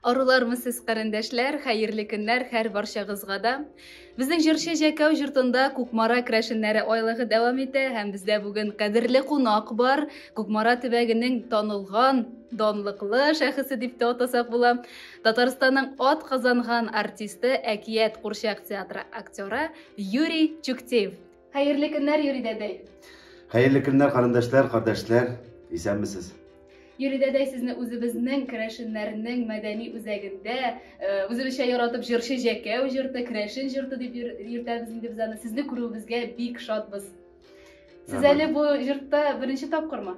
Арулармы сез, карендәшләр, хәерле көннәр һәр барчагызга да. Безнең җырчы Җәкәү җортында Кукмара крәшеннәре айлыгы дәвам итә һәм бездә бүген кадерле кунак бар. Кукмара төбәгенең танылган, данлыклы шәхесе дип тә атасак була. Татарстанның ат казанган артисты Әкият курчак театры актеры Юрий Чуктеев. Хәерле көннәр, Юрий дәдәй! Хәерле көннәр, карындашлар, кардәшләр! Исәнмесез! Юрий дәдәй, сезне үзебезнең керәшеннәрнең мәдәни үзәгендә, э, үзебезчә яратып җырчы җәкәү җырты, керәшен җырты дип йөртәбез инде без аны. Сезне күрүебезгә бик шатбыз. Сез әле бу җыртта беренче тапкырмы?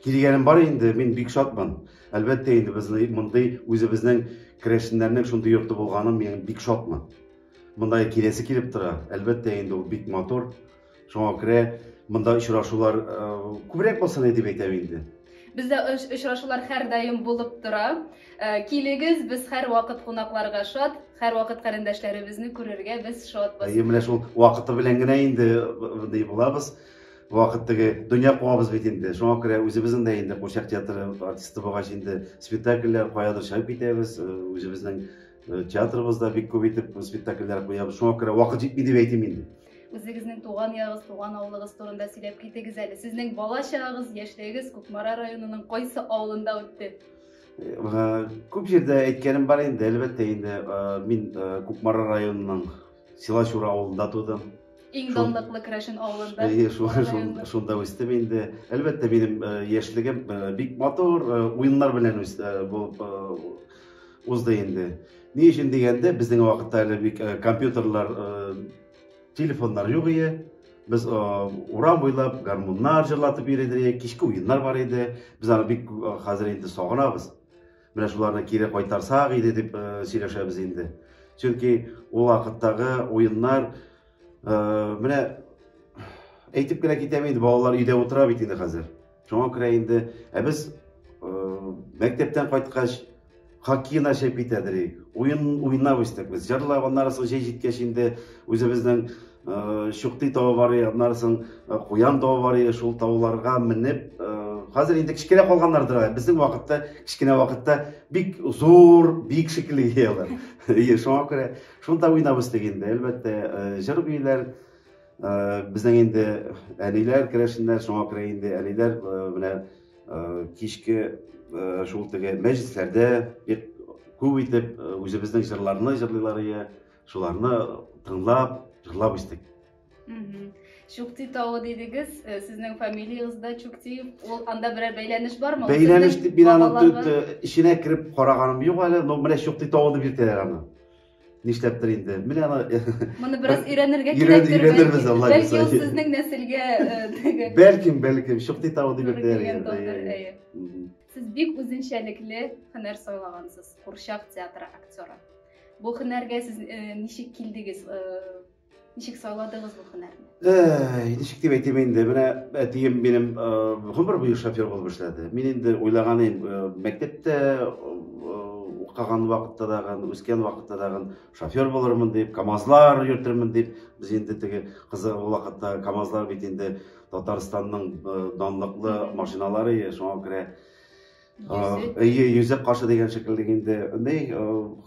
Килгәнем бар инде, мин бик шатмын. Әлбәттә инде без мондый үзебезнең керәшеннәрнең шундый йорты булганым мин бик шатмын. Монда киләсе килеп тора. Әлбәттә, инде ул бик матур. Шуңа күрә монда очрашулар э, күбрәк булсын дип әйтәм инде. Бездә очрашулар һәрдаим булып тора. Э, килегез, без һәрвакыт кунакларга шат, һәрвакыт карендәшләребезне күрергә без шатбыз. Әйе, менә шул вакыты белән генә инде мондый э, булабыз. Вакыт теге дөнья куабыз бит инде. Шуңа күрә үзебезнең дә инде Курчак театры артисты булгач инде спектакльләр каядыр чыгып китәбез, үзебезнең Э, театрыбызда бик күп итеп спектакльләр куябыз шуңа күрә вакыт җитми дип әйтим инде үзегезнең туган ягыгыз туган авылыгыз турында сөйләп китегез әле сезнең бала чагыгыз яшьлегегез кукмара районының кайсы авылында үтте э, күп җирдә әйткәнем бар инде әлбәттә инде э, мин кукмара районының Силачур авылында тудым. Иң данлыклы Керәшен авылында. Әйе, шунда үстем инде. Әлбәттә, минем яшьлегем бик матур уеннар белән булып узды инде. Ни өчен дигәндә, безнең вакытта әле бик компьютерлар, телефоннар юк иде. Без урам буйлап гармуннар җырлатып йөридек, кичке уеннар бар иде. Без аны бик хәзер инде сагынабыз. Менә шуларны кире кайтарсак иде дип сөйләшәбез инде. Чөнки ул вакыттагы уеннар менә әйтеп кенә китәм инде, балалар өйдә утыра бит инде хәзер. Шуңа күрә инде ә без мәктәптән кайткач хоккей начать бит әдерик. Уен уйнап үстек без. Җырлап, аннары соң җәй җиткәч инде үзебезнең Э, шуктый тавы бар иде аннан соң э, куян тавы бар иде шул тауларга менеп э, хәзер инде кечкенә калганнардыр безнең вакытта кечкенә вакытта бик зур бик шикелле иде алар ие шуңа күрә шунда уйнап үстек инде әлбәттә җыр биюләр безнең инде әниләр керәшеннәр шуңа күрә инде әниләр менә кичке шул теге мәҗлесләрдә бик күп итеп үзебезнең җырларны җырлыйлар иде Шуларны тыңлап, җырлап үстек. Чукти тавы дидегез, э, сезнең фамилиягез дә Чукти. Ул анда берәр бәйләнеш бармы? Бәйләнеш дип мин аны төт э, эченә кереп караганым юк әле, но менә Чукти тавы дип йөртәләр аны. Нишләптер инде. Менә аны э, Моны бераз өйрәнергә кирәк. Өйрәнербез Алла Бәлки ул сезнең нәселгә теге. Бәлкем, бәлкем Чукти тавы дип йөртәләр. Сез бик үзенчәлекле һөнәр сайлагансыз, курчак театры актеры. Бу һөнәргә сез э, ничек килдегез? Э, ничек сайладыгыз бу һөнәрне? Э, ничек дип әйтим инде, менә әтием минем гомер буе шофер булып эшләде. Мин инде уйлаган идем, мәктәптә укыган вакытта дагын, үскән вакытта дагын шофер булырмын дип, КАМАЗлар йөртермен дип, без инде теге кызыгы вакытта КАМАЗлар бит инде Татарстанның данлыклы машиналары, шуңа күрә Йөзек. Йөзек кашы дигән шикелле инде. Ни,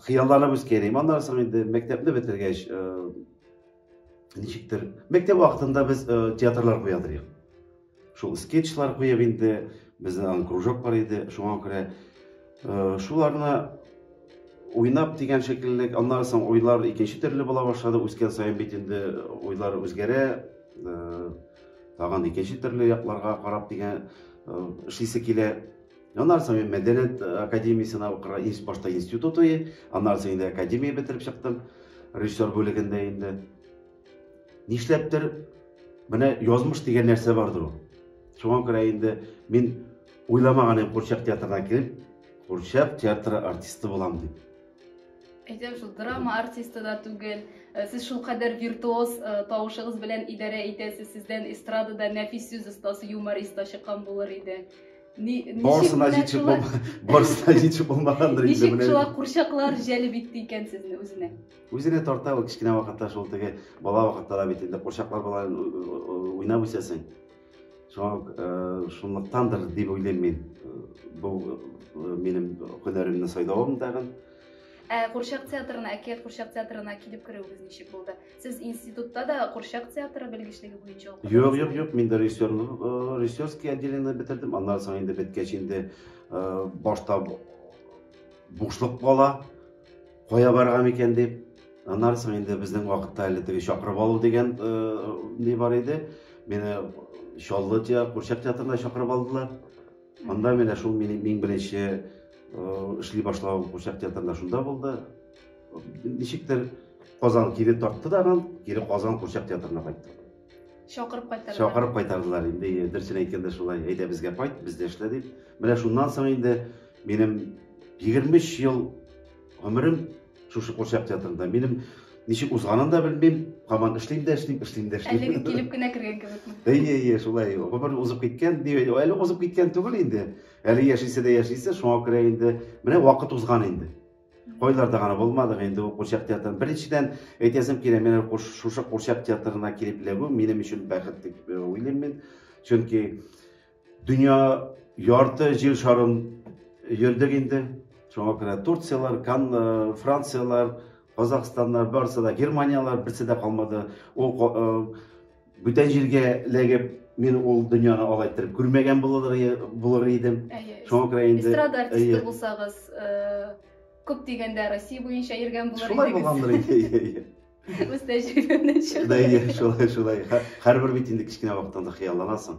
хыялланып үскән идем. Аннан соң инде мәктәпне бетергәч, ничектер, мәктәп вакытында без театрлар куя идек. Шул скетчлар куеп инде, безнең аның кружок бар иде, шуңа күрә шуларны уйнап дигән шикелле, аннан соң уйлар икенче төрле була башлады, үскән саен бит инде уйлар үзгәрә. Тагын икенче төрле якларга карап дигән эшлисе килә. Аннан соң мин мәдәният академиясенә укырга инс башта институт уе, аннан соң инде академия бетереп чыктым. Режиссер бүлегендә инде. Нишләптер менә язмыш дигән нәрсә бардыр ул. Шуңа күрә инде мин уйламаган идем Курчак театрына кереп, Курчак театры артисты булам дип. әйтәм шул драма артисты да түгел э, сез шулкадәр виртуоз э, тавышыгыз белән идарә итәсез сездән эстрадада нәфис сүз остасы юморист та чыккан булыр иде барысына җитешеп барысына җитешеп булмагандыр инде ничек шулай курчаклар җәлеп итте икән сезне үзенә үзенә тарта ул кечкенә вакытта шул теге бала вакытта да бит инде курчаклар белән уйнап үсәсең Шуңа ук, э, шунлыктандыр дип уйлыйм мин, э, бу э, минем һөнәремне сайлавым тагын. Ә курчак театрына, әкият курчак театрына килеп керүегез ничек булды? Сез институтта да курчак театры белгечлеге буенча укыдыгыз? Юк, юк, юк, мин дә режиссерлык, э, режиссерский отделение бетердем. Аннан соң инде беткәч инде э, башта бушлык кала. Кая барган икән дип, аннан соң инде безнең вакытта әле теге чакырып алу дигән ни бар иде. Мине Чаллы театр, Курчак театрына чакырып алдылар. Анда менә шул минем иң беренче эшли башлау Курчак театрында шунда булды. Ничектер Казан кире тартты да анан, кире Казан Курчак театрына кайтты. Чакырып кайтардылар. Чакырып кайтардылар. Инде э, дөресен әйткәндә шулай, әйдә безгә кайт, бездә эшлә дип. Менә шуннан соң инде минем 23 ел гомерем шушы курчак театрында. Минем ничек узганын да белмим, һаман эшлим дә эшлим, эшлим дә эшлим. Әлеге килеп кенә кергән кебекме? Әйе, әйе, шулай. Гомер узып киткән, әле узып киткән түгел инде. Әле яшисе дә яшисе, шуңа күрә инде менә вакыт узган инде. Кайларда гына булмадык инде ул курчак театрын. Беренчедән, әйтәсем килә, менә шушы курчак театрына килеп эләгү минем өчен бәхет дип э, уйлыйм мин. Чөнки дөнья ярты җир шарын йөрдек инде. Шуңа күрә Турцияләр, Кан, э, Францияләр, Казахстаннар, барысы да Германияләр берсе дә калмады. Ул э, Бүтән җиргә эләгеп, мин ул дөньяны алай иттереп күрмәгән булыр идем. Шуңа күрә инде эстрада артисты булсагыз, э, күп дигәндә Россия буенча йөргән булыр идегез. Шулай булгандыр инде. Үз тәҗрибәмнән чыгып. Да, шулай, шулай. Һәрбер бит инде кечкенә вакыттан да хыялланасың.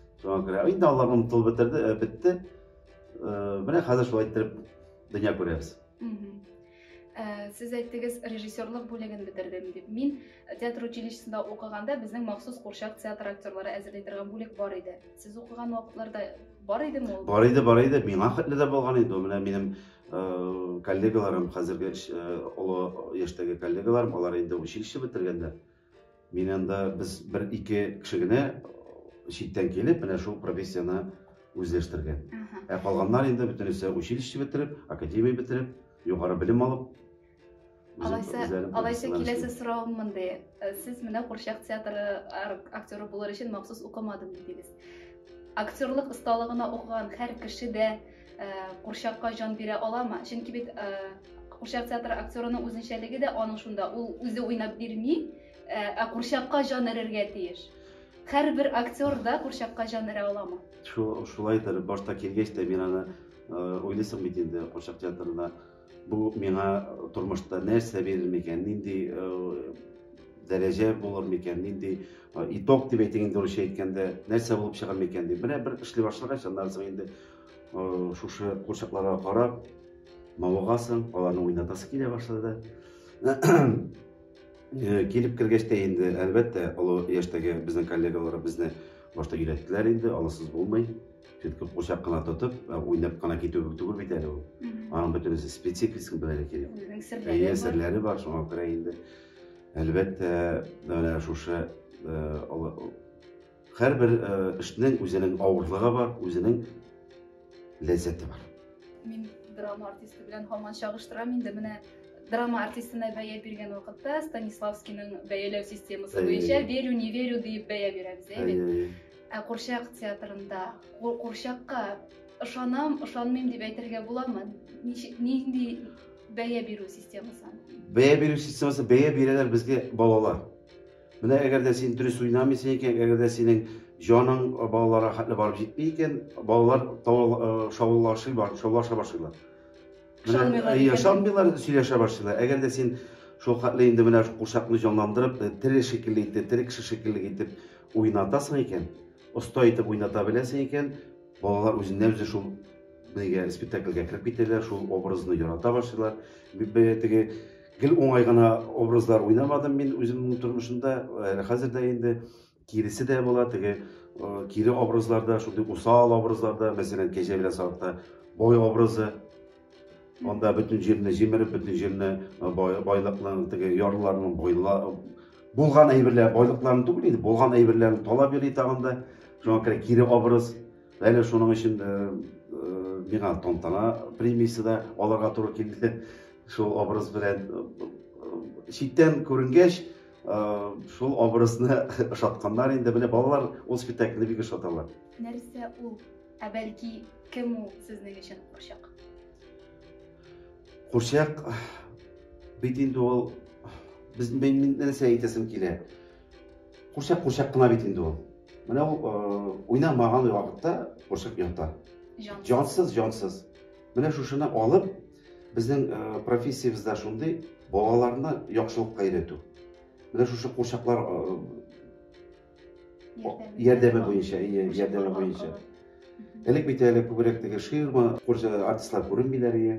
Шуңа күрә инде алар онытылып бетерде, э, бетте. Э, менә хәзер шулай иттереп дөнья күрәбез. Э, сез әйттегез, режиссерлык бүлеген бетердем дип. Мин театр училищесында укыганда безнең махсус курчак театр актерлары әзерли торган бүлек бар иде. Сез укыган вакытларда бар идеме ул? Бар иде, бар иде. Миңа хәтле дә булган иде. Менә минем э, коллегаларым, хәзерге э, олы яшьтәге коллегаларым, алар инде училище бетергәннәр. Мин анда без бер ике кеше генә читтән килеп, менә шул профессияне үзләштергән. Ә калганнар инде бөтенесе училище бетереп, академия бетереп, югары белем алып. Алайса, алайса киләсе сорау мондый. Э, сез менә курчак театры актеры булыр өчен махсус укымадым дидегез. Актерлык осталыгына укыган һәр кеше дә Курчакка җан бирә аламы? Чөнки бит курчак театры актерының үзенчәлеге дә аның шунда, ул үзе уйнап бирми, ә курчакка җан эрергә тиеш. Һәрбер актер да курчакка җан эрә аламы? Шулайдыр, башта килгәч тә мин аны уйлыйсың бит инде курчак театрына Бу миңа тормышта нәрсә бирер микән, нинди дәрәҗә булыр микән, нинди итог дип әйтик инде русча әйткәндә, нәрсә булып чыгар микән дип. Менә бер эшли башлагач, аннан соң инде шушы курчакларга карап, мавыгасың, аларны уйнатасы килә башлады. Килеп кергәч тә инде, әлбәттә, олы яшьтәге безнең коллегалар безне башта өйрәттеләр инде, аласыз булмый. Сөткә курчак кына тотып, ә, уйнап кына китү кебек түгел бит әле ул. Мгм. Аның бөтенесе спецификасын белергә кирәк. Үзенең серләре Әйе, бар. серләре бар, шуңа күрә инде. Әлбәттә, менә шушы э, ала- һәрбер э, эшнең үзенең авырлыгы бар, үзенең ләззәте бар. Мин драма артисты белән һаман чагыштырам инде. Менә драма артистына бәя биргән вакытта Станиславскийның бәяләү системасы Әйе. буенча верю, не верю дип бәя бирәбез, әйе бит? Әйе, әйе. Ә курчак театрында курчакка ышанам, ышанмыйм дип әйтергә буламы? Нинди бәя бирү системасы? Бәя бирү системасы, бәя бирәләр безгә балалар. Менә әгәр дә син дөрес уйнамыйсың икән, әгәр дә синең җаның балаларга хәтле барып җитми икән, балалар шаулашып бар, шаулаша башлыйлар. Ышанмыйлар, сөйләшә башлыйлар. Әгәр дә син шул хәтле инде менә курчакны җанландырып, тере шикелле итеп, тере кеше шикелле итеп уйнатасың икән, оста итеп уйната беләсең икән, балалар үзеннән үзе шул бигә спектакльгә кереп китәләр, шул образны ярата башлыйлар. Бигә теге гел уңай гына образлар уйнамадым мин үземнең тормышымда, әле хәзер дә инде киресе дә була, теге э, кире образларда, шундый усал образларда, мәсәлән, кәҗә белән сарыкта бой образы, Анда бөтен җирне җимереп, бөтен җирне э, байлыкның, теге ярлыларның байла булган әйберләр, байлыкларын түгел инде, булган әйберләрен талап йөри тагын да. Шуңа күрә кире образ. Әле шуның өчен э, э, миңа тантана премиясе дә алырга туры килде. Шул образ белән читтән күренгәч, шул образны ошатканнар инде. Менә балалар ул спектакльне бик ошаталар. Нәрсә ул? Ә бәлки, кем ул сезнең өчен курчак? Курчак бит инде ул без мин нәрсә әйтәсем килә. Курчак курчак кына бит инде ул. Менә ул э, уйнамаган вакытта курчак ята. Җансыз, җансыз. Менә шушыны алып, безнең э, профессиябездә шундый балаларны яхшылыкка өйрәтү. Менә шушы курчаклар э, ярдәме, ярдәме буенча, әйе, ярдәме буенча. Элек бит әле күбрәк теге ширма, курча артистлар күренмиләр ие.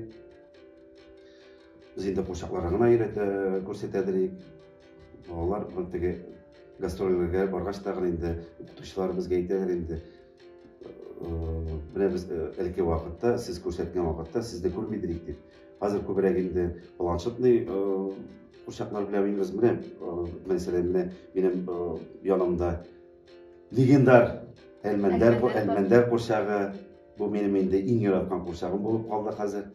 Без инде курчакларны гына өйрәтә, күрсәтәдер ик. Балалар бу теге гастрольләргә баргач та гына инде укытучылар безгә әйтәләр инде. Э, Менә без э, элекке вакытта, сез күрсәткән вакытта сезне күрмидер ик дип. Хәзер күбрәк инде планшетный курчаклар белән уйныйбыз. Менә мәсәлән, менә минем янымда легендар Әлмәндәр Әлмәндәр курчагы. Бу минем инде иң яраткан курчагым булып калды хәзер.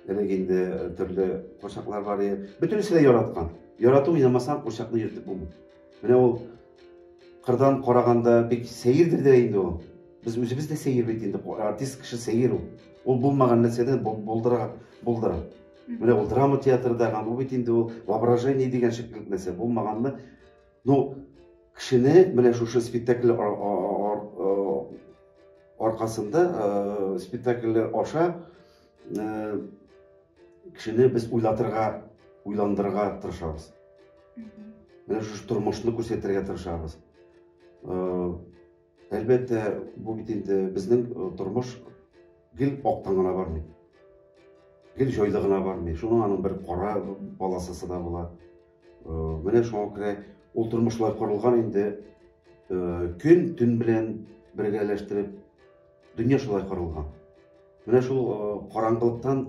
Элек инде төрле курчаклар бар иде. Бөтенесе дә яраткан. Ярату уйнамасаң, курчакны йөртеп булмый. Менә ул кырдан караганда бик сәердер дә инде ул. Без үзебез дә сәер бит инде. Артист кеше сәер ул. Ул булмаган нәрсәдән булдыра, булдыра. Менә ул драма театрдагы, бу бит инде ул воображение дигән шикелле нәрсә. Булмаганны, ну, кешене менә шушы спектакль аркасында, спектакль аша кешене без уйлатырга уйландырырга тырышабыз менә шушы тормышны күрсәтергә тырышабыз әлбәттә бу бит инде безнең тормыш гел актан гына бармый гел җайлы гына бармый шуның аның бер кара полосасы да була менә шуңа күрә ул тормыш шулай корылган инде көн төн белән бергәләштереп Дөнья шулай корылган. Менә шул караңгылыктан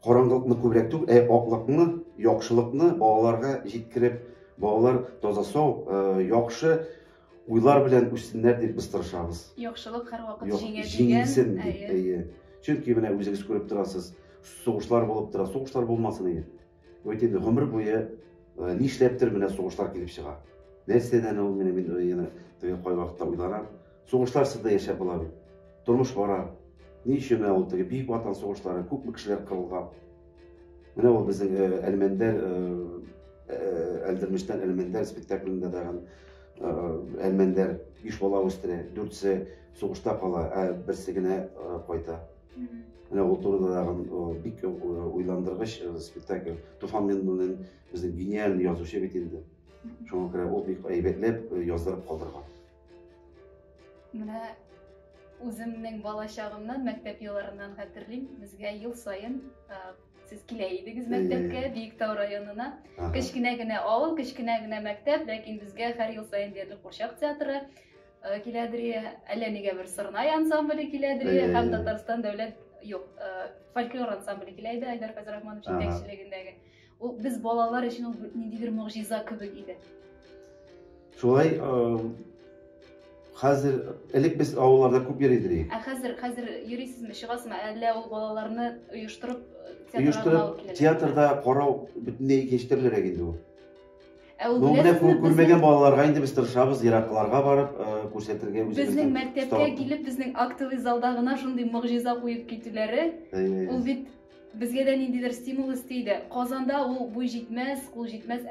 караңгылыкны күбрәк түгел, ә аклыкны, яхшылыкны балаларга җиткереп, балалар таза сау, яхшы уйлар белән үссеннәр дип без тырышабыз. Яхшылык һәрвакыт җиңә дигән. Җиңсен дип, әйе. Чөнки менә үзегез күреп торасыз, сугышлар булып тора, сугышлар булмасын иде. Вот инде гомер буе нишләптер менә сугышлар килеп чыга. Нәрсәдән ул менә мин яна теге кай вакытта уйланам. Сугышларсыз да яшәп була бит. Тормыш бара. Ни өчен менә ул теге Бөек Ватан сугышлары, күпме кешеләр кырылган. Менә ул безнең Әлмәндәр Әлдермештән Әлмәндәр спектаклендә да Әлмәндәр биш бала үстерә, дүртсе сугышта кала, ә берсе генә кайта. Менә ул турыда тагын бик уйландыргыч спектакль. Туфан Миннуллин безнең гениальный язучы бит инде. Шуңа күрә ул бик әйбәтләп яздырып калдырган. Менә үземнең балачагымнан, мәктәп елларыннан хәтерлим, безгә ел саен сез килә идегез мәктәпкә биектау районына кечкенә генә авыл кечкенә генә мәктәп ләкин безгә һәр ел саен диярлек курчак театры Киләдри, әллә нигә бер Сырнай ансамбле киләдри һәм Татарстан дәүләт юк, фольклор ансамбле килә иде Айдар Фәзрахманов җитәкчелегендәге. Ул без балалар өчен ул ниндидер могҗиза кебек иде. Шулай хәзер элек без авылларда күп йөри идек. Ә хәзер хәзер йөрисезме, чыгасызмы? Әллә ул балаларны оештырып театрга алып киләме? Оештырып театрда карау бөтенләй икенче төрлерәк инде ул. Ә ул беләсезме, күрмәгән балаларга инде без тырышабыз, еракларга барып күрсәтергә үзебезне. Безнең мәктәпкә килеп, безнең актовый залда гына шундый могҗиза куеп китүләре. Ул бит безгә дә ниндидер стимул өсти иде. Казанда ул буй җитмәс, кул җитмәс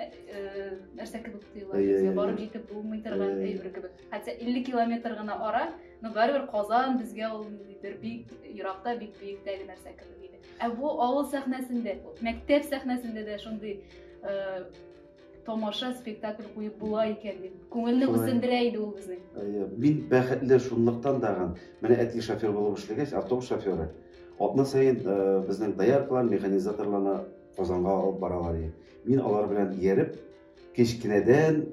нәрсә кебек тоела безгә. Барып җитеп булмый торган әйбер кебек. Хәтта 50 километр гына ара, но барыбер Казан безгә ул бер бик еракта, бик биектәге нәрсә кебек иде. Ә бу авыл сәхнәсендә, мәктәп сәхнәсендә дә шундый э, тамаша, спектакль куеп була икән дип. Күңелне Шулай. үзендерә иде ул безнең. Әйе, Мин бәхетле шунлыктан тагын. Менә әти шофер булып эшләгәч, автобус шоферы. Атна саен э, безнең дояркалар, механизаторларны Казанга алып баралар иде. Мин алар белән ияреп, Кечкенәдән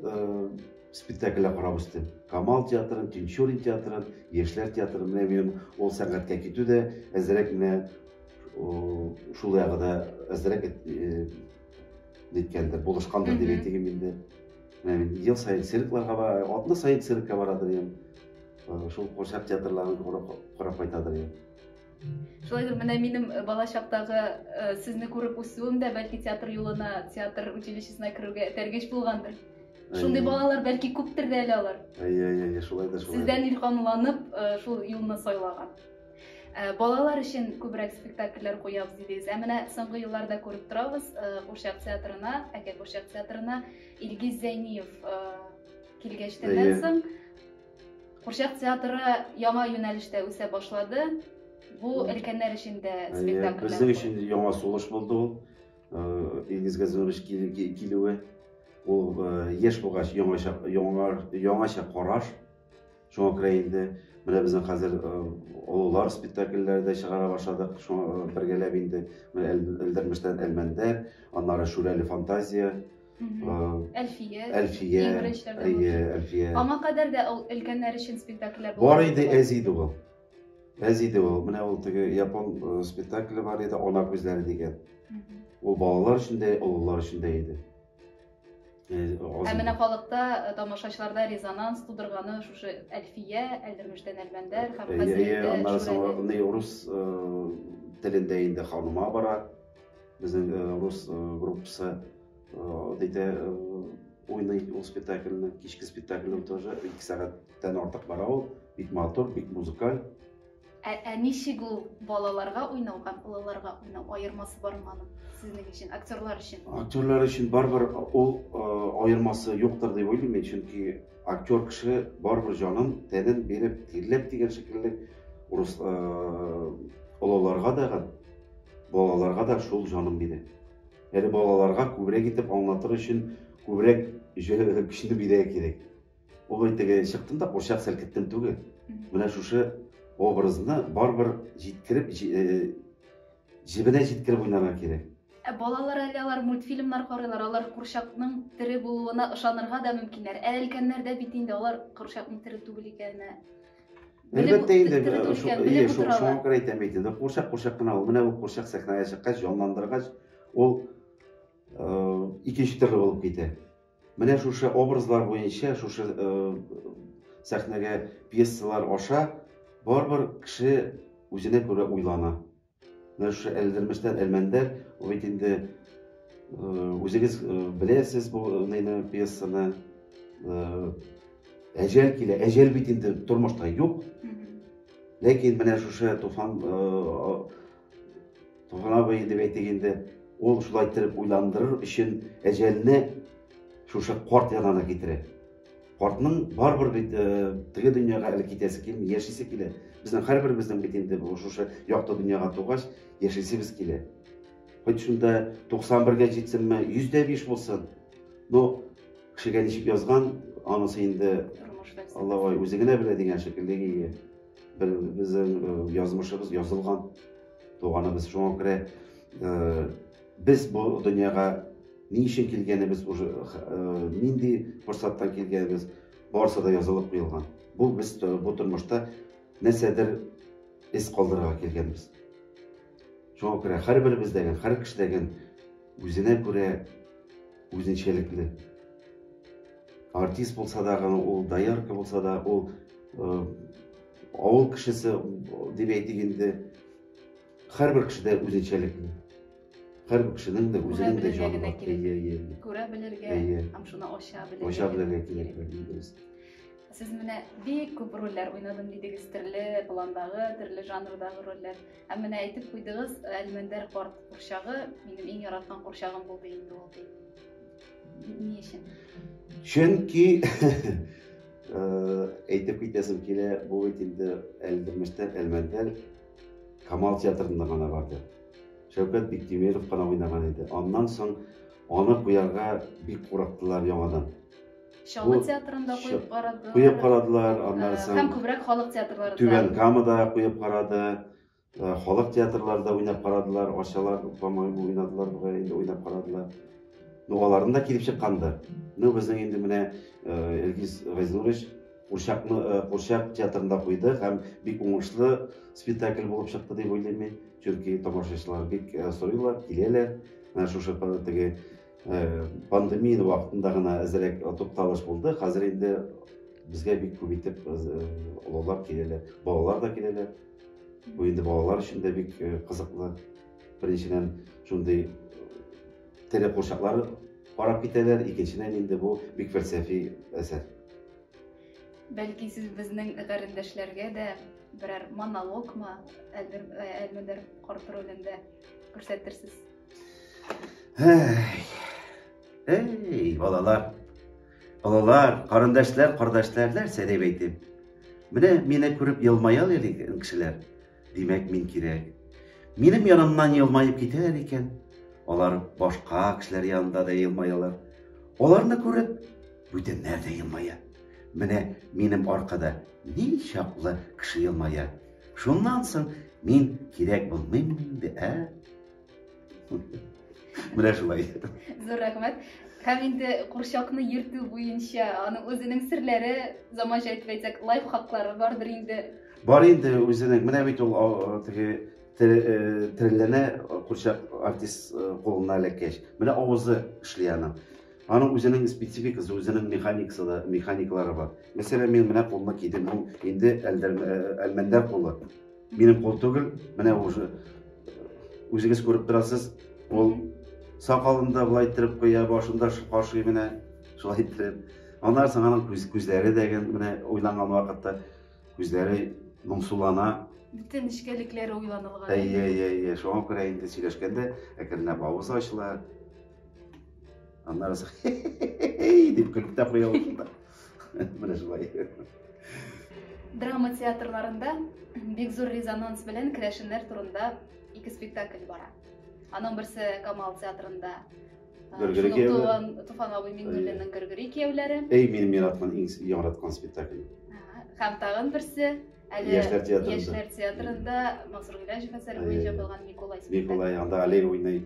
спектакльләр карап үстем. Камал театрын, Тинчурин театрын, Яшьләр театрын. Менә минем ул сәнгатькә китү дә әзрәк менә шул ягы да әзрәк ниткәндер, булышкандыр дип әйтим инде. Менә мин ел саен циркларга бара, атна саен циркка барадыр идем. Шул курчак театрларын карап кайтадыр идем. Шулай да менә минем э, бала чактагы э, сезне күреп үсүем дә бәлки театр юлына, театр училищесына керүгә этәргеч булгандыр. Шундый балалар бәлки күптер дә әле алар. Әйе, әйе, әйе, шулай да шулай. Сездән илһамланып э, шул юлны сайлаган. Э, балалар өчен күбрәк спектакльләр куябыз дидегез. Ә менә соңгы елларда күреп торабыз, э, Курчак театрына, Әкә Курчак театрына Илгиз Зәйниев килгәчтән соң Курчак театры яңа юнәлештә үсә башлады. Бу өлкәннәр өчен дә спектакль. Безнең өчен яңа сулыш булды ул. Илгиз Газизович килүе. Ул яшь булгач яңача яңа яңача караш. Шуңа күрә инде менә безнең хәзер олылар спектакльләре дә чыгара башладык. Шуңа бергәләп инде Элдермештән Әлмәндәр, аннары Шүрәле фантазия, Әлфия. Әлфия. Иң беренчеләрдән. Әйе, Әлфия. Аңа кадәр дә ул өлкәннәр өчен спектакльләр булды. Бар иде әз иде ул. Әз иде ул. Менә ул теге япон э, спектакле бар иде, Ана күзләре дигән. Ул балалар өчен дә, олылар өчен дә иде. Э, Ә менә халыкта э, тамашачыларда резонанс тудырганы шушы Әлфия, Әлдермештән Әлмәндәр һәм хәзер. Әйе, аннары соң рус телендә инде ханыма бара. Безнең рус группасы Дәйтә уйный ул спектакльне, кичке спектакльне тоже ике сәгатьтән артык бара ул, бик матур, бик музыкаль. Ә, ә ничек ул балаларга уйнау һәм олыларга уйнау аермасы бармы аның сезнең өчен, актерлар өчен? Актерлар өчен барыбер ул аермасы юктыр дип уйлыйм мин, чөнки актер кеше барыбер җанын, тәнен биреп, тирләп дигән шикелле урыс олыларга да Балаларга да шул җаным биде. Әле балаларга күбрәк итеп аңлатыр өчен күбрәк көчне бирә кирәк. Ул теге чыктым да курчак селкеттем түгел. Менә шушы образны барыбер җиткереп, җебенә җиткереп уйнарга кирәк. Ә балалар әле алар мультфильмнар карыйлар, алар курчакның тере булуына ышанырга да мөмкиннәр. Ә өлкәннәрдә бит инде алар курчакның тере түгел икәненә Әлбәттә инде, э, ие, шуңа күрә әйтәм бит инде, курчак курчак кына ул. Менә бу курчак сәхнәгә чыккач, җанландыргач, ул э, икенче төрле булып китә. Менә шушы образлар буенча, шушы э, сәхнәгә пьесалар аша барбар кеше үзенә күрә уйлана. Менә шушы Әлдермештән Әлмәндәр, ул бит инде үзегез беләсез бу ныйны пьесаны. Әҗәл килә, әҗәл бит инде тормышта юк. Ләкин менә шушы Туфан Туфан абый дип әйтик инде, ул шулай иттереп уйландырыр өчен әҗәлне шушы карт янына китерә. картның барыбер бит э, теге дөньяга әле китәсе килми яшисе килә безнең һәрберебезнең бит инде шушы якты дөньяга тугач яшисебез килә хоть шунда туксан бергә җитсенме йөз дә биш булсын но кешегә ничек язган анысы инде аллабай үзе генә белә дигән шикелле безнең э, язмышыбыз язылган туганыбыз шуңа күрә э, Без бу дөньяга ни өчен килгәнебез, уже нинди форсаттан килгәнебез, барысы да язылып куелган. Бу без бу тормышта нәрсәдер эз калдырырга килгәнбез. Шуңа күрә һәрберебездәген, һәр кешедәген үзенә күрә үзенчәлекле. Артист булса да, ул доярка булса да, ул авыл кешесе дип әйтик инде, Һәрбер кешедә үзенчәлек инде. Һәрбер кешенең дә үзенең дә җаны бар. Әйе, әйе. Күрә белергә һәм шуны ача белергә. Ача белергә кирәк, дөрес. Сез менә бик күп рольләр уйнадым дидегез, төрле пландагы, төрле жанрдагы рольләр. Ә менә әйтеп куйдыгыз, Әлмәндәр карт курчагы минем иң яраткан курчагым булды инде ул ди. Ни өчен? Чөнки әйтеп китәсем килә, бу бит инде әлдермештән Әлмәндәр Камал театрында гына барды. Шәүкәт Биктимеров кына уйнаган иде. Аннан соң аны куярга бик курыктылар яңадан. Чаллы Бу- театрында Ча- куеп карадылар. Куеп карадылар, Э, аннан Һәм соң күбрәк халык театрларында. Түбән Камада куеп карады. Э, Халык театрларында уйнап карадылар, Арчалар, по-моему, уйнадылар бугай, инде уйнап карадылар. Ну, аларның да килеп чыккандыр. Ну, безнең инде менә э, Илгиз Газнурович Курчакны Курчак театрында куйдык һәм бик уңышлы спектакль булып чыкты дип уйлыйм мин. Чөнки тамашачылар бик сорыйлар, киләләр. Менә шушы теге пандемия вакытында гына әзрәк тукталыш булды. Хәзер инде безгә бик күп итеп олылар киләләр, балалар да киләләр. Бу инде балалар өчен дә бик кызыклы. Беренчедән, шундый Тере курчаклар карап китәләр, икенчедән инде бу бик фәлсәфи әсәр. Бәлки сез безнең гарендәшләргә дә берәр монологмы, әлбер, әлмедер карт ролендә күрсәтерсез? Әй, әй, балалар, олылар, карендәшләр, кардәшләр, нәрсә дип әйтим? Менә мине күреп елмаялар икән кешеләр. Димәк, мин кирәк. Минем янымнан елмаеп китәләр икән, алар башка кешеләр янында да елмаялар. Аларны күреп, бүтәннәр дә елмая. Менә минем аркада ни чаклы кеше елмая. Шуннан соң мин кирәк булмыйммы инде, ә? Менә шулай. Зур рәхмәт. Һәм инде курчакны йөртү буенча аның үзенең серләре, заманча итеп әйтсәк, лайфхаклары бардыр инде. Бар инде үзенең. Менә бит ул теге тереләнә курчак артист кулына эләккәч. Менә авызы эшли аның. Аның үзенең спецификасы, үзенең механикасы да, механикалары бар. Мәсәлән, мин менә кулны кидем, бу инде әлмәндәр кулы. Минем кул түгел, менә уже үзегез күреп торасыз, ул сакалын да былай иттереп куя, башын да кашый менә шулай иттереп. Аннан соң аның күз, күзләре дә менә уйланган вакытта күзләре моңсулана. Бөтен нечкәлекләре уйланылган. Әйе, әйе, әйе. Шуңа күрә инде сөйләшкәндә әкренләп авыз ачыла. Аннары дип көлеп тә куя ул шунда. Менә шулай. Драма театрларында бик зур резонанс белән керәшеннәр турында ике спектакль бара. Аның берсе Камал театрында Гөргүри кияүләр. Туфан абый Миннуллинның Гөргүри кияүләре. Эй, мин мираткан иң яраткан спектакль. Һәм тагын берсе әле яшьләр театрында. Яшьләр театрында Мансур Гыйләҗев әсәре буенча булган Николай спектакль. Николай анда Алей уйный.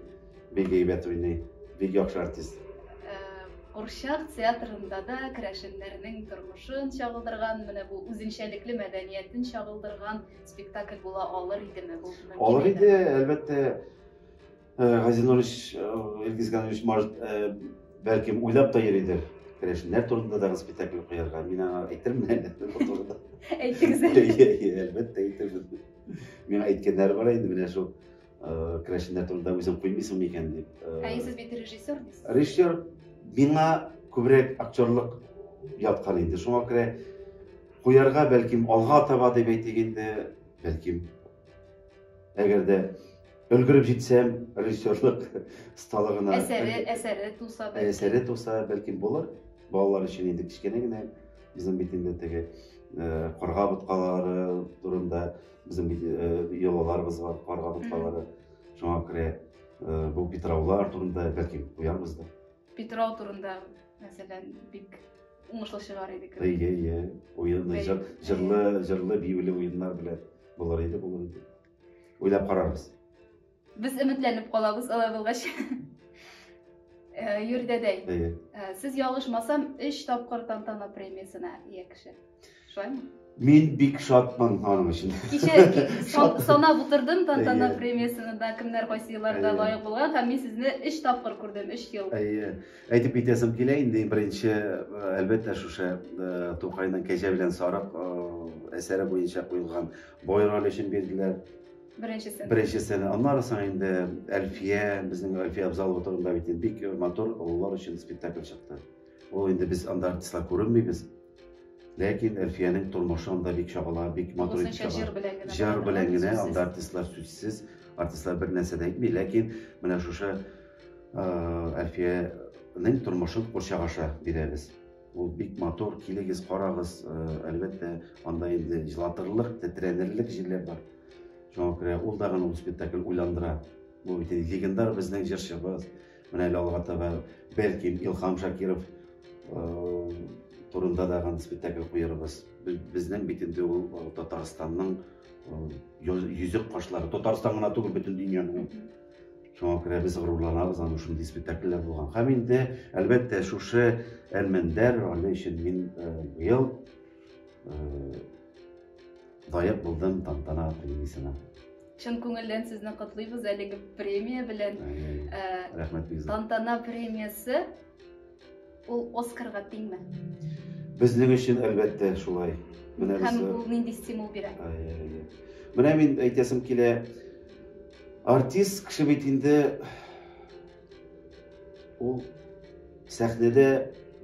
Бик әйбәт уйный, бик яхшы артист. Курчак театрында да керәшеннәрнең тормышын чагылдырган, менә бу үзенчәлекле мәдәниятен чагылдырган спектакль була алыр идеме? Бу мөмкин Алыр иде, идеме? әлбәттә, э, Гази Нурович, э, Илгиз Ганович, может, э, бәлкем уйлап та йөридер. Керәшеннәр турында дагы спектакль куярга. Мин аңа әйтермен әле бу турыда. Әйтегез әле. Әйе, әйе, әлбәттә әйтермен. Миңа әйткәннәре бар инде менә шул Керәшеннәр турында үзең куймыйсың микән дип. Ә сез бит режиссер дисез. Режиссер миңа күбрәк актерлык яткан инде. Шуңа күрә куярга бәлкем алга таба дип әйтик инде, бәлкем. Әгәр дә өлгереп җитсәм, режиссерлык сталыгына. Әсәре, әсәре туса бәлкем. Әсәре туса бәлкем булыр. Балалар өчен инде кечкенә генә. Безнең бит инде теге карга боткалары турында Безнең бит йолаларыбыз бар, карга боткалары. Шуңа күрә бу питраулар турында бәлки куярбыз да. Питрау турында, мәсәлән, бик уңышлы чыгар иде кебек. Әйе, әйе. Уенлы, җырлы, җырлы, биюле уеннар белән булыр иде, булыр иде. Уйлап карарбыз. Без өметләнеп калабыз алай булгач. Э, Юрдәдәй. Әйе. Э, сез ялгышмасам, 3 тапкыр тантана премиясенә ия кеше. Шулаймы? Мин бик шатмын аның өчен. Кичә санап утырдым тантана премиясенә дә кемнәр кайсы елларда лаек булган һәм мин сезне 3 тапкыр күрдем, 3 ел. Әйе. Әйтеп китәсем килә инде беренче э, әлбәттә шушы Тукайның кәҗә белән сарык әсәре буенча куелган Бойраль өчен бирделәр. Беренчесен. Беренчесен. Аннары соң инде Әлфия, безнең Әлфия Абзалова турында бит бик матур олылар өчен спектакль чыкты. Ул инде без анда артистлар күренмибез. Ләкин Әлфиянең тормышы анда бик чагыла, бик матур итеп чагыла. Җыр белән генә. Җыр белән генә анда артистлар сүзсез, артистлар бер нәрсә дә әйтми, ләкин менә шушы Әлфиянең тормышын курчак аша бирәбез. Ул бик матур, килегез, карагыз. Әлбәттә, анда инде җылатырлык, тетрәнерлек җирләр бар. Шуңа күрә ул да гына ул спектакль уйландыра. Бу бит легендар безнең җырчыбыз. Менә әле алга таба бәлки Илхам Шакиров турында да гына спектакль куярбыз. Безнең бит инде ул Татарстанның йөзек кашлары. Татарстан гына түгел, бөтен дөньяның. Шуңа күрә без горурланабыз аны шундый спектакльләр булган. Һәм инде, әлбәттә, шушы Әлмәндәр роле өчен мин э, быел э, лаек булдым тантана премиясенә. Чын күңелдән сезне котлыйбыз әлеге премия белән. Ә, Рәхмәт бик зур. Тантана премиясе Ул Оскарга тиңме? Безнең өчен әлбәттә шулай. Менә Һәм ул нинди стимул бирә? Менә мин әйтәсем килә, артист кеше бит инде ул сәхнәдә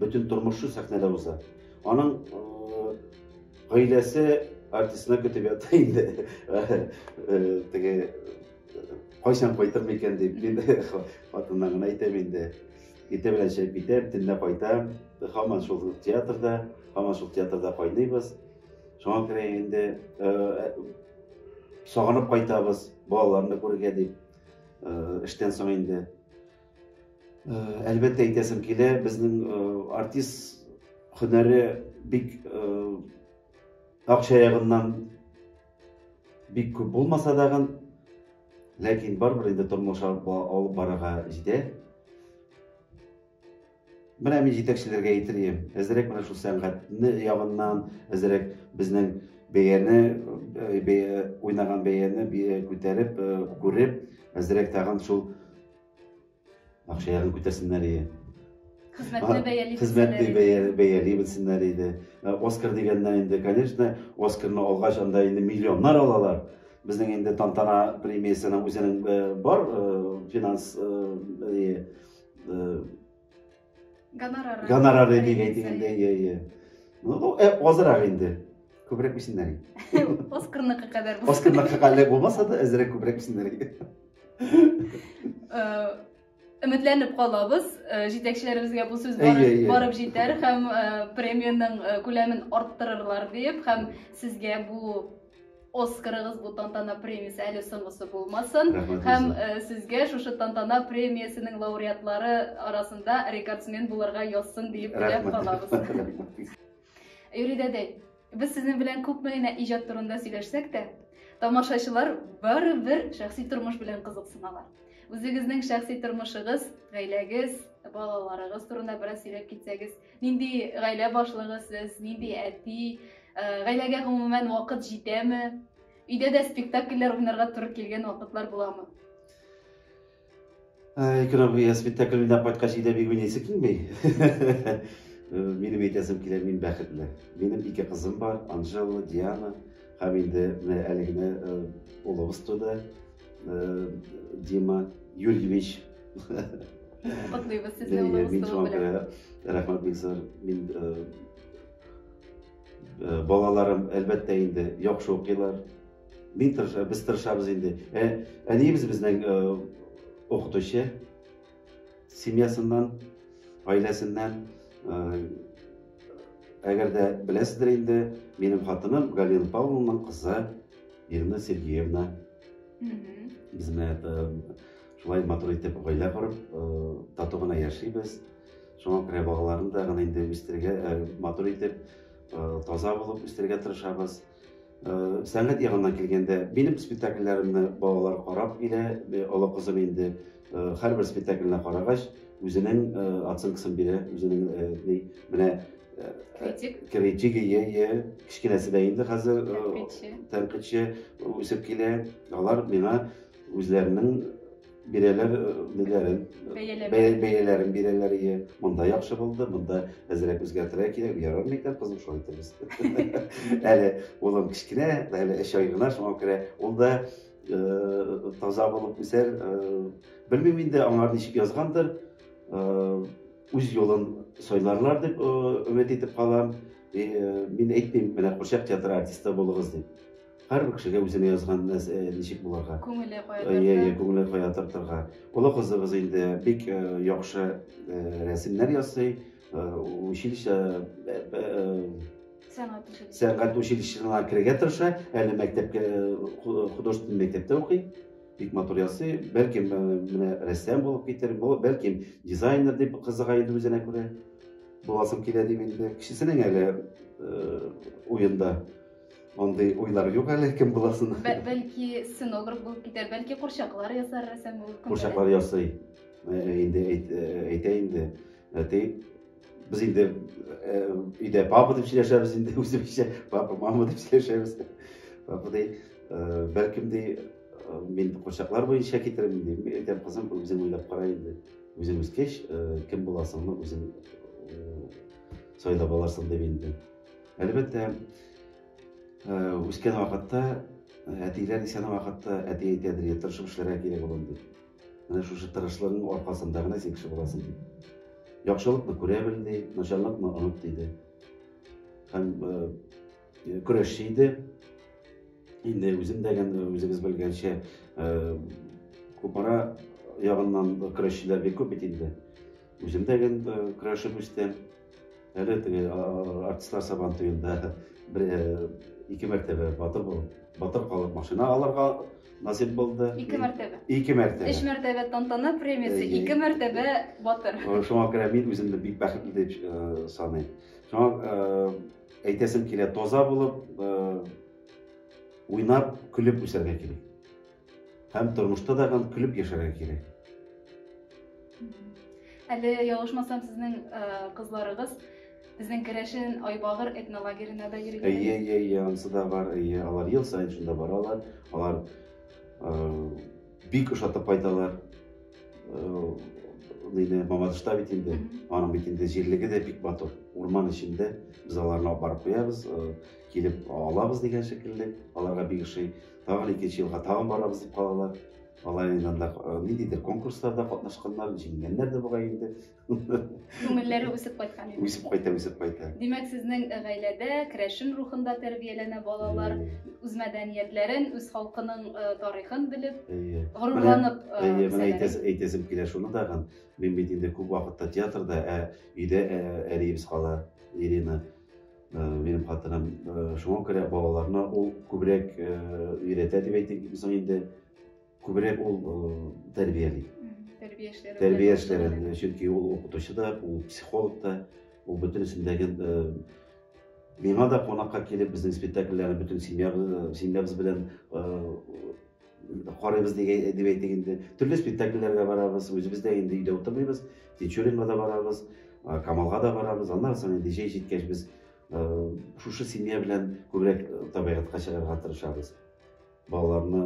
бөтен тормышы сәхнәдә уза. Аның гаиләсе артистны көтеп ята инде. Теге кайчан кайтыр микән дип мин хатыннарына әйтәм инде. Иртә белән чыгып китәм, төнлә кайтам. Һаман шул театрда, һаман шул театрда кайныйбыз. Шуңа күрә инде э, э, сагынып кайтабыз балаларны күрергә дип. Э, эштән соң инде. Әлбәттә әйтәсем килә, безнең артист һөнәре бик акча ягыннан бик күп булмаса дагын, Ләкин барыбер инде тормыш алып алып барырга җитә. Менә мин җитәкчеләргә әйтер идем, әзрәк менә шул сәнгатьне ягыннан, әзрәк безнең бәяне, э, бәя, уйнаган бәяне күтәреп, э, күреп, әзрәк тагын шул Акча ягын күтәрсеннәр иде. Хезмәтне бәяли Хезмәтне бәяли белсеннәр иде. Э, Оскар дигәннән инде, конечно, Оскарны алгач анда инде миллионнар алалар. Безнең инде тантана премиясенең үзенең э, бар э, финанс Гонорары. Гонорары дип әйтелгәндә, иә, иә. Ну, э, азрак инде. Күбрәк бисеннәр. Оскарныкы кадәр. Оскарныкы кадәр булмаса да, әзрәк күбрәк бисеннәр. Өметләнеп калабыз, җитәкчеләребезгә бу сүз барып җитәр һәм премиянең күләмен арттырырлар дип һәм сезгә бу Оскарыгыз бу тантана премиясе әле соңгысы булмасын. Һәм э, сезгә шушы тантана премиясенең лауреатлары арасында рекордсмен булырга язсын диеп теләп калабыз. Юрий дәдәй, без сезнең белән күпме генә иҗат турында сөйләшсәк тә, тамашачылар барыбер шәхси тормыш белән кызыксыналар. Үзегезнең шәхси тормышыгыз, гаиләгез, балаларыгыз турында бераз сөйләп китсәгез, Нинди гаилә башлыгы сез, нинди әти, гаиләгә гомумән вакыт җитәме? Өйдә дә спектакльләр уйнарга туры килгән вакытлар буламы? Икрам, я спектакль уйнап кайткач өйдә бик уйныйсы килми. Минем әйтәсем килә, мин бәхетле. Минем ике кызым бар, Анжела, Диана. Һәм инде менә әле генә улыбыз туды. э, Дима Юрьевич. Котлыйбыз сезне улы Мин булсын шуңа күрә белән. рәхмәт бик зур. Мин э, э, балаларым әлбәттә инде яхшы укыйлар. Мин тырыша, без тырышабыз инде. Ә, әниебез безнең э, укытучы. Семьясыннан, гаиләсеннән э, әгәр дә беләсездер инде, минем хатыным Галина Павловнаның кызы Ирина Сергеевна безне шулай матур итеп гаилә корып, тату гына яшибез. Шуңа күрә балаларны да гына инде үстергә, матур итеп, таза булып үстергә тырышабыз. Сәнгать ягыннан килгәндә, минем спектакльләремне балалар карап килә, олы кызым инде Э, һәрбер спектакльне карагач үзенең э, оценкасын бирә үзенең э, ни менә критик критик ие ие кечкенәсе дә инде хәзер тәнкыйтьче үсеп килә алар миңа үзләренең бирәләр ниләрен бәяләрен бирәләр ие монда яхшы булды монда әзрәк үзгәртергә кирәк ярар микән кызым шулай итәбез әле улым кечкенә әле өч ай гына шуңа күрә ул да таза булып үсәр. Белмим инде аңар ничек язгандыр. Үз юлын сайларлар дип өмет итеп калам. Мин әйтмим, менә курчак театры артисты булыгыз дип. Һәрбер кешегә үзенә язган ничек булырга. Күңеле кая тарта. Ие, ие, күңеле кая тартырга. Олы кызыбыз инде бик яхшы рәсемнәр ясый, Э, училище э, э, сәнгать училище сәнгать училищесына керергә тырыша әле мәктәпкә художественный мәктәптә укый бик матур ясый бәлкем менә рәссам булып китер бәлкем дизайнер дип кызыга инде үзенә күрә буласым килә дип инде кечесенең әле уенда андый уйлар юк әле кем буласын бәлки сценограф булып китәр бәлки курчаклар ясар рәссам булып курчаклар ясый инде әйтә инде Әти, без инде өйдә папа дип сөйләшәбез инде, үзебезчә папа, мама дип сөйләшәбез. Папа ди, бәлкем ди, мин кочаклар буенча китерим ди. Мин әйтәм, кызым, үзең уйлап кара инде. Үзең үскәч, кем буласыңны үзең сайлап аласың дип инде. Әлбәттә, үскән вакытта әтиләр исән вакытта әти әйтәдер, тырышып эшләргә кирәк улым дип. Менә шушы тырышлыгың аркасында гына син кеше буласың, дип. Яхшылыкны күрә бел, ди, начарлыкны оныт, диде. Һәм көрәшче иде. Инде үзем дә үзегез белгәнчә Кукмара ягыннан көрәшчеләр бик күп бит инде. Үзем дә гел көрәшеп үстем. Әле теге артистлар сабан туенда бер ике мәртәбә батыр булып, батыр калып машина алырга насип булды. Ике мәртәбә. Ике мәртәбә. Өч мәртәбә тантана премиясе, ике мәртәбә батыр. Шуңа күрә мин үземне бик бәхетле дип э, саныйм. Шуңа э, әйтәсем килә, таза булып, э, уйнап, көлеп үсәргә кирәк. Һәм тормышта да гам көлеп яшәргә кирәк. Әле ялгышмасам, сезнең э, кызларыгыз безнең керәшен Айбагыр этнолагерена да йөргән. Әйе, әйе, әйе, анысы да бар, әйе, алар ел саен шунда баралар, алар э, бик ошатып кайталар. Э, Нинди Мамадышта бит инде, аның бит инде җирлеге дә бик матур. Урман эчендә без аларны алып барып куябыз, э, килеп алабыз дигән шикелле, аларга бик ошый. Тагын икенче елга тагын барабыз дип калалар. Алар инде анда э, ниндидер конкурсларда катнашканнар, җиңгәннәр дә бугай инде. Күңелләре үсеп кайткан инде. Үсеп кайта, үсеп кайта. Димәк, сезнең гаиләдә керәшен рухында тәрбияләнә балалар, үз мәдәниятләрен, үз халкының э, тарихын белеп, Әйе. горурланып э, Әйе, менә үсәләр. әйтәс- әйтәсем килә шуны тагын. Мин бит инде күп вакытта театрда, ә өйдә ә, әниебез кала, Ирина. Э, минем хатыным э, шуңа күрә балаларына ул күбрәк э, өйрәтә дип әйтик соң инде күбрәк ул тәрбияли тәрбия эшләре тәрбия эшләрен чөнки ул укытучы да ул психолог та ул бөтенесендәге миңа да кунакка килеп безнең спектакльләрне бөтен семьябыз семьябыз белән карыйбыз дип әйтик инде төрле спектакльләргә барабыз үзебез дә инде өйдә утырмыйбыз тинчуринга да барабыз камалга да барабыз аннан соң инде җәй җиткәч без шушы семья белән күбрәк табигатька чыгарга тырышабыз балаларны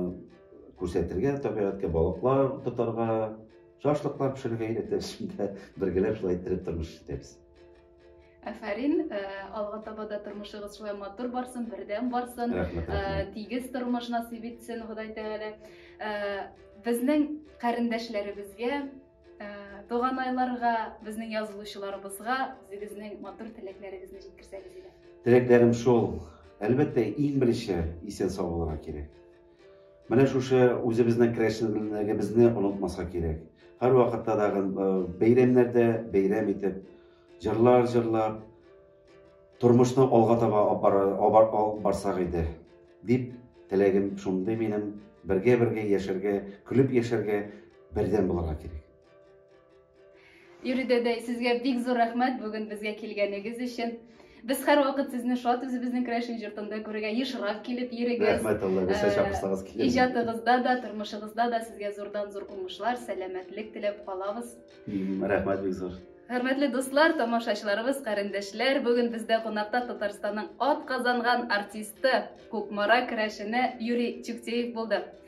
күрсәтергә табигатькә балыклар тотарга шашлыклар пешерергә өйрәтәбез шунда бергәләп шулай иттереп тормыш итәбез Афәрин, э, алга таба да тормышыгыз шулай матур барсын, бердәм барсын, э, тигез тормыш насыйп итсен Ходай Тәгалә. Э, безнең карендәшләребезгә, туганайларга, безнең язылучыларыбызга үзегезнең матур теләкләрегезне җиткерсәгез иде. Теләкләрем шул. Әлбәттә, иң беренче исән сау булырга кирәк. Менә шушы үзебезнең керәшенлегебезне онытмаска кирәк. Һәрвакытта да бәйрәмнәрдә бәйрәм итеп, җырлар җырлап, тормышны алга таба алып барсак иде, дип теләгем шундый минем. Бергә-бергә яшәргә, көлеп яшәргә, бердәм булырга кирәк. Юрий дәдәй, сезгә бик зур рәхмәт бүген безгә килгәнегез өчен. Без һәрвакыт сезне шат үзебезнең Крәшин җортында күрергә ешрак килеп йөрегез. Рәхмәт Алла, без чакырсагыз килеп. Иҗатыгызда да, тормышыгызда да сезгә зурдан зур уңышлар, сәламәтлек теләп калабыз. Рәхмәт бик зур. Хөрмәтле дуслар, тамашачыларыбыз, карендәшләр, бүген бездә кунакта Татарстанның атказанган артисты, Кукмара керәшене Юрий Чүктеев булды.